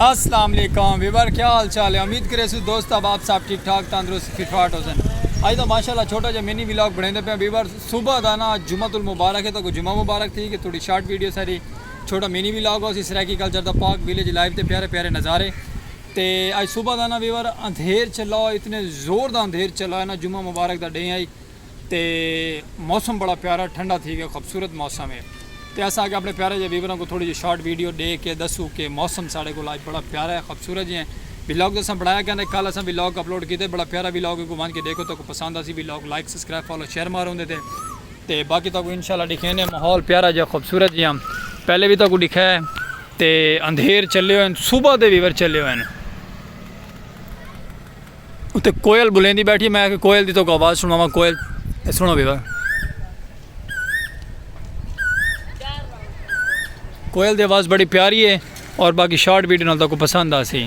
السلام علیکم ویور کیا حال چال ہے امید کرے سو دوست اب آپ سب ٹھیک ٹھاک تندرست فٹ فاٹ ہو سن اج دا ماشاءاللہ چھوٹا جا منی ولاگ بنیندے پیا ویور صبح دا نا جمعہ المبارک ہے تو کو جمعہ مبارک تھی کہ تھوڑی شارٹ ویڈیو ساری چھوٹا منی ولاگ ہو سی سرائیکی کلچر دا پاک ویلیج لائیو تے پیارے پیارے نظارے تے اج صبح دا نا ویور اندھیر چلا اتنے زور دا اندھیر چلا ہے نا جمعہ مبارک دا ڈے آئی تے موسم بڑا پیارا ٹھنڈا تھی گیا خوبصورت موسم ہے تے اساں اگے اپنے پیارے جے ویوراں کو تھوڑی جی شارٹ ویڈیو ڈے کے دسو کہ موسم ساڑے کو لاج بڑا پیارا ہے خوبصورت جی ہیں ویلاگ تو اساں بنایا کہندے کل اساں ویلاگ اپلوڈ کیتے بڑا پیارا ویلاگ ہے کو وان کے دیکھو تو کو پسند اسی vlog like subscribe follow share مار ہوندے تے تے باقی تو کو انشاءاللہ دکھینے ماحول پیارا جے خوبصورت جی ہیں پہلے بھی تو کو دکھا ہے تے اندھیر چلے ہوئے ہیں صبح دے ویور چلے ہوئے ہیں اتے کوئل بلیندی بیٹھی ہے میں آکھیا کوئل دی تہاکوں آواز سنڑاواں کوئل اے سنڑو وی وا کوئل دی آواز بڑی پیاری ہے اور باقی شارٹ ویڈیو نال تہاکوں پسند آسی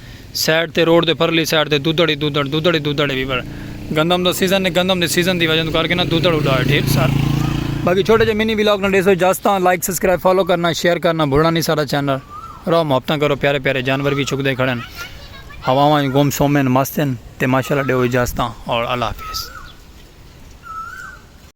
سائیڈ تے روڈ دے پرلی سائیڈ تے دودھڑ ہی دودھڑ دودھڑ ہی دودھڑ ہی پر گندم دا سیزن ہے گندم دے سیزن دی وجہ توں کر کے نا دودھڑ اڈا ہے ٹھیک سر باقی چھوٹے جے منی ولاگ نا ڈیسو اجازت ہاں لائک سبسکرائب فالو کرنا شیئر کرنا بھولنا نہیں سارا چینل رہو محبتاں کرو پیارے پیارے جانور بھی چھکدے کھڑے ہیں ہواواں گم سوم ہیں مست ہیں تے ماشاءاللہ ڈیو اجازت ہاں اور اللہ حافظ